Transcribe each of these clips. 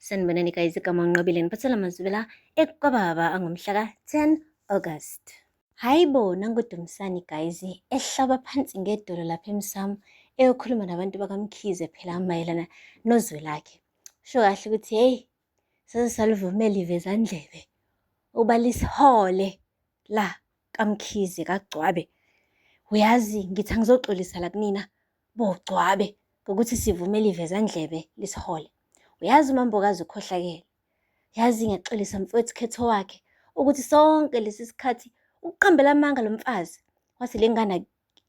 Sanibonani guys, igama unqobile niphathela amazwibela ekukababa angomhlaka 10 August. Hayi bo nanguDumsani guys ehlaba phansi ngedolo lapha emsamo eyokhuluma nabantu bakamkhize phela mayelana nozwe lakhe. Usho kahle ukuthi hey sase salivumela ivezandlebe uba lisihole la kamkhize kagcwabe. Uyazi ngithi angizoxolisa la kunina Bugcwabe ngokuthi sivume liveza ndlebe lisihole. Uyazi umambokazi ukhohlakele. Yazi ngiyaxolisa mfowethu khetho wakhe ukuthi sonke lesi sikhathi ukuqambela amanga lo mfazi wathi le ngane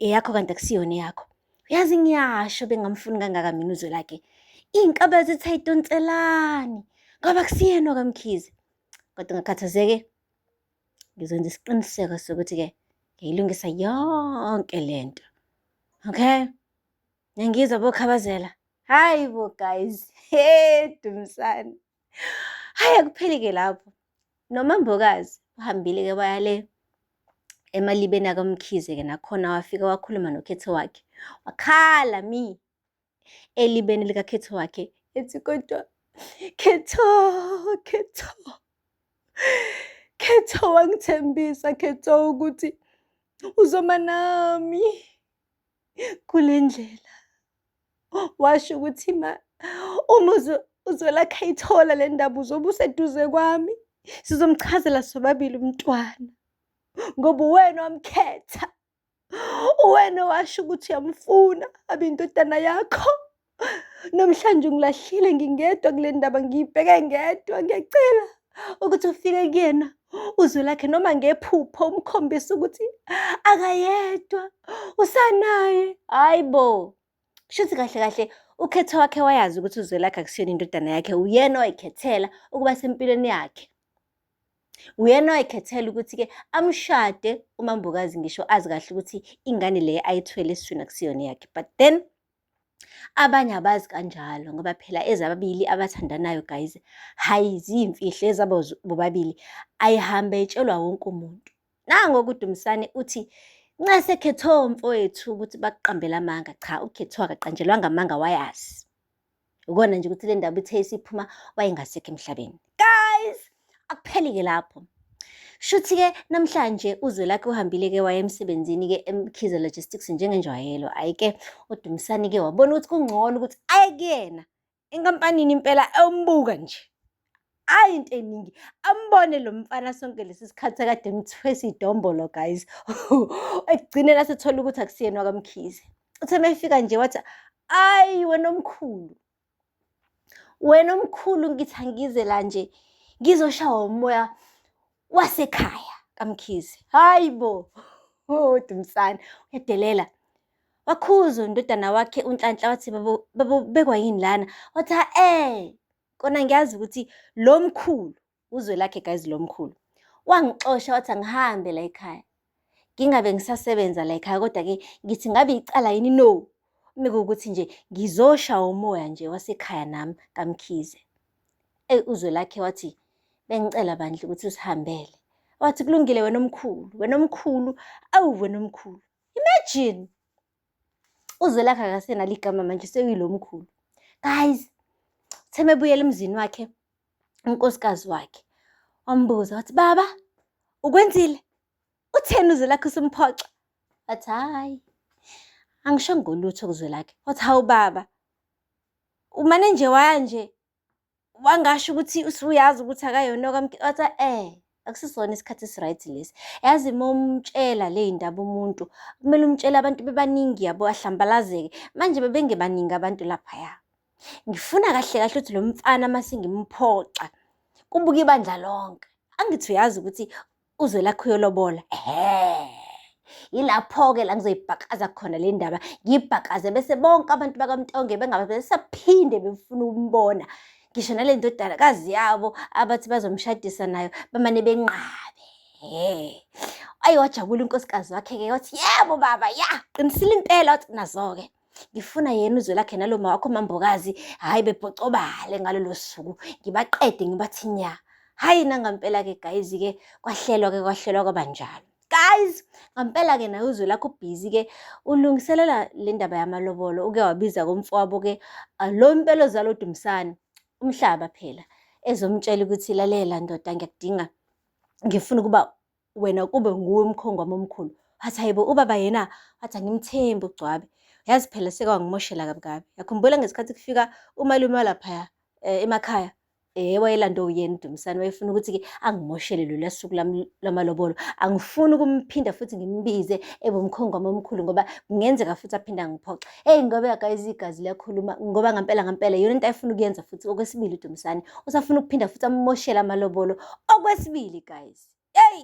eyakho kanti akusiyona eyakho. Uyazi ngiyasho bengamfuni kangaka mina uzwe lakhe. Iy'nkaba zithi ayidonselani ngoba kusiyena okamkhize. Kodwa ngakhathazeke Ngizokwenza isiqiniseko sokuthi-ke ngiyilungisa yonke le nto okay niyangizwa bokhabazela hayi bo guys he dumsane hayi akupheli-ke lapho nomambokazi uhambile-ke waya le emalibeni akamkhize-ke nakhona wafika wakhuluma nokhethe wakhe wakhala mi elibeni likakhetho wakhe ethi kodwa khetho khetho khetho wangithembisa khetho ukuthi uzoma nami kule ndlela washo ukuthi ma uma uzolakha ithola le ndaba uzobe useduze kwami sizomchazela sobabili umntwana ngoba uwena wamkhetha uwena washo ukuthi uyamfuna abe indodana yakho namhlanje ngilahlile ngingedwa kule ndaba ngiyibheke ngedwa ngiyacela ukuthi ufike kuyena uzwe lakhe noma ngephupho umkhombisa ukuthi akayedwa usanaye hayi bo Shuthi kahle kahle ukhetho wakhe wayazi ukuthi uZwelakhe akusiyona indodana yakhe uyena oyikhethela ukuba sempilweni yakhe. Uyena oyikhethela ukuthi-ke amshade umambokazi ngisho azi kahle ukuthi ingane le ayithwele esiswini akusiyona yakhe but then abanye abazi kanjalo ngoba phela ezababili abathandanayo guys hayi ziyimfihlo ezabo bobabili ayihambe itshelwa wonke umuntu. Nango kuDumisani uthi nxa sekhethwe umfowethu ukuthi bakuqambela amanga cha ukhethwe akaqanjelwanga amanga wayazi ukona nje ukuthi le ndaba ithe isiphuma wayengasekho emhlabeni guys akuphelike lapho Shuthi-ke namhlanje uZwelakhe uhambile-ke waya emsebenzini-ke eMkhize Logistics njengenjwayelo. Hhayi-ke uDumisani-ke wabona ukuthi kungcono ukuthi aye kuyena enkampanini impela ewumbuka nje ayi into eningi ambone lo mfana sonke lesi sikhathi akade emthwesa idombolo guys ekugcineni asethola ukuthi akusiyena wakamkhize uthe mefika nje wathi ayi wena omkhulu wena omkhulu ngithi angize la nje ngizoshawa umoya wasekhaya kaMkhize. Hayi bo! Oh, Dumsane, uyadelela. Wakhuza undodana wakhe uNhlanhla wathi babo babo bekwa yini lana? Wathi ha eh kona ngiyazi ukuthi lo mkhulu uzwe lakhe guys lo mkhulu. Wangixosha wathi angihambe la ekhaya. ngingabe ngisasebenza la ekhaya kodwa-ke ngithi ngabe icala yini no mekuwukuthi nje ngizosha umoya nje wasekhaya nami kamkhize eyi uzwe lakhe wathi bengicela bandla ukuthi usihambele wathi kulungile wena omkhulu wena omkhulu awu wena omkhulu imagine uzwelakhe akasena ligama manje sewilo mkhulu guys theme ebuyela emzini wakhe unkosikazi wakhe wambuza wathi baba ukwenzile utheni uzwelakhe usumphoxa wathi hhayi angisho ngolutho kuzwelakhe wathi hawu baba umane nje waya nje wangasho ukuthi usuyazi ukuthi akayona okamkhiwathi eh akusisona isikhathi esiright lesi yazi uma umtshela le yindaba umuntu kumele umtshele abantu bebaningi yabo ahlambalazeke manje bebengebaningi abantu laphaya ngifuna kahle kahle ukuthi lo mfana uma sengimphoxa kubuke ibandla lonke angithi uyazi ukuthi uZwelakhe uyolobola ehe yilapho-ke la ngizoyibhakaza khona le ndaba ngiyibhakaze bese bonke abantu bakamtonge bengabe besaphinde befuna ukumbona ngisho nale ndodakazi yabo abathi bazomshadisa nayo bamane benqabe ayi wajabula unkosikazi wakhe-ke wathi yebo baba ya qinisile impela wathi nazo-ke ngifuna yena uzwe lakhe nalo mawakho mambokazi hhayi bebhocobale ngalolo suku ngibaqede ngibathi nya hhayi nangampela-ke gayizi-ke kwahlelwa-ke kwahlelwa kwaba njalo guys ngampela-ke naye uzwe lakho ubhizi-ke ulungiselela le ndaba yamalobolo uke wabiza komfowabo-ke ah, lo mpela ozala udumisane umhlaba phela ezomtshela ukuthi lalela ndoda ngiyakudinga ngifuna ukuba wena kube nguwe umkhongo wami omkhulu wathi hayibo ubaba yena wathi angimthembi ugcwabe yazi phela sekwangimoshela kabi kabi yakhumbula ngesikhathi kufika umalume walaphaya um emakhaya Eh wayelanda uyena uDumisani wayefuna ukuthi-ke angimoshele lolu suku lami lwamalobolo. Angifuni ukumphinda futhi ngimbize ebe umkhongo wami omkhulu ngoba kungenzeka futhi aphinde angiphoxe. Eyi ngoba guys igazi liyakhuluma ngoba ngampela ngampela yona into ayefuna ukuyenza futhi okwesibili uDumisani. Usafuna ukuphinda futhi amumoshele amalobolo okwesibili guys. yeyi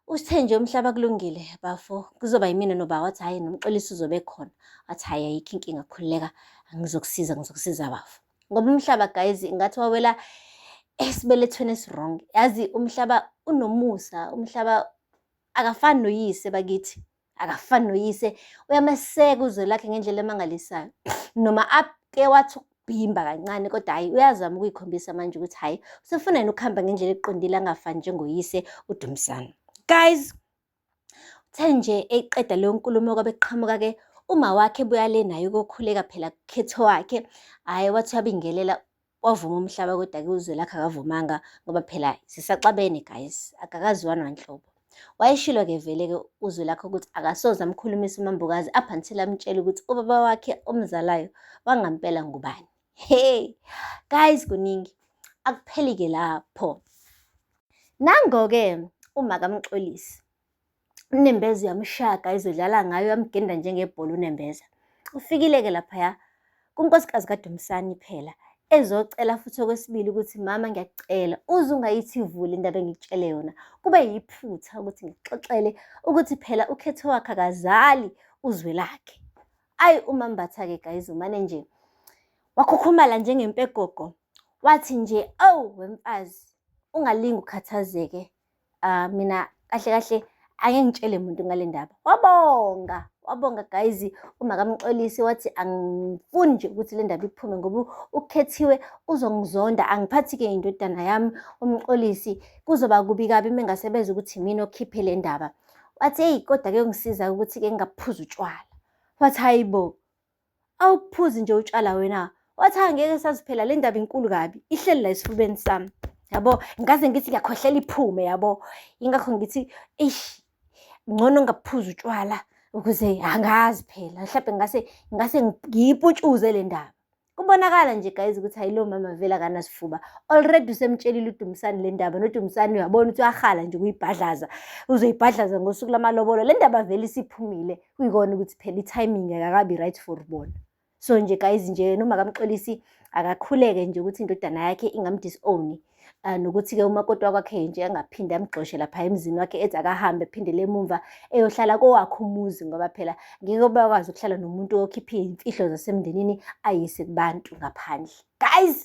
uthe nje umhlaba kulungile bafo kuzoba yimina noba wathi hhayi nomxolisi uzobe khona wathi hhayi ayikho inkinga khululeka ngizokusiza ngizokusiza bafo ngoba umhlaba guys ngathi wawela esibelethweni esirong yazi umhlaba unomusa umhlaba akafani noyise bakithi akafani noyise uyameseka uzwe lakhe ngendlela emangalisayo noma ake wathi ukubhimba kancane kodwa hhayi uyazama ukuyikhombisa manje ukuthi hhayi usefuna yena ukuhamba ngendlela eqondile angafani njengoyise udumisana guys uthe nje eyiqeda leyo nkulumo kwabe kuqhamuka-ke uma wakhe buya le naye ukokhuleka phela kukhetho wakhe hhayi wathi uyabingelela Kwavuma umhlaba kodwa ke uZwelakhe akavumanga ngoba phela sisaxabene guys, akakaziwa nanhlobo. Wayeshilo ke vele ke uZwelakhe ukuthi akasoze amkhulumisa uMambukazi up until amtshela ukuthi ubaba wakhe omzalayo wangampela ngubani. Hey guys kuningi akupheli ke lapho. Nango ke uma kamxolisi. unembeza uyamshaka izodlala ngayo yamgenda njengebhola unembeza ufikile-ke laphaya kunkosikazi kadumsani phela ezocela futhi okwesibili ukuthi mama ngiyakucela uze ungayithivuli indaba engikutshele yona kube yiphutha ukuthi ngixoxele ukuthi phela ukhetho wakhe akazali uzwe lakhe ayi umambatha-ke guys umane nje wakhukhumala njengempegogo wathi nje awu wemfazi ungalingi ukhathazeke Ah mina kahle kahle ake ngitshele muntu ngale ndaba. Wabonga, wabonga guys uma kamxolisi wathi angifuni nje ukuthi le ndaba iphume ngoba ukhethiwe uzongizonda angiphathi ke indodana yami umxolisi kuzoba kubi kabi mengasebeza ukuthi mina okhiphe le ndaba. Wathi hey kodwa ke ungisiza ukuthi ke ngingaphuza utshwala. Wathi hayibo awuphuzi nje utshwala wena wathi angeke saziphela le ndaba inkulu kabi ihleli la esifubeni sami yabo ngaze ngithi ngiyakhohlela iphume yabo ingakho ngithi eish ngcono ngaphuza utshwala ukuze angazi phela mhlawumbe ngase ngase ngiyiputshuze le ndaba kubonakala nje guys ukuthi hayi lo mama vele akanasifuba already usemtshelile udumisani le ndaba nodumisani uyabona ukuthi uyahala nje kuyibhadlaza uzoyibhadlaza ngosuku lamalobolo le ndaba vele isiphumile kuyikona ukuthi phela i-timing akakabi right for bona so nje guys nje noma kamxolisi akakhuleke nje ukuthi indodana yakhe ingamdisown uh, ah, nokuthi-ke umakoti wakwakhe nje angaphinde amgxoshe lapha emzini wakhe ethi akahambe phindele emumva eyohlala kowakhe umuzi ngoba phela ngeke bakwazi ukuhlala nomuntu okhiphe iy'mfihlo zasemndenini ayise kubantu ngaphandle guys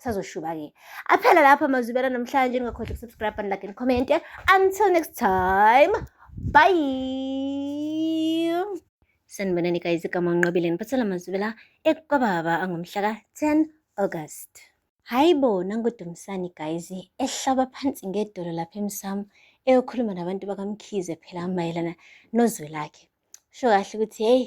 sazoshuba-ke aphela lapho amazwibela namhlanje ningakhohlwa ukusubscribe and like and comment until next time bye sanibonani guys igama unqobile ngiphathela amazwibela ekwababa angomhla ka-10 august hhayi bo nangodumisani guys ehlaba phansi ngedolo lapha emsamo eyokhuluma nabantu bakamkhize phela mayelana nozwe lakhe sho kahle ukuthi heyi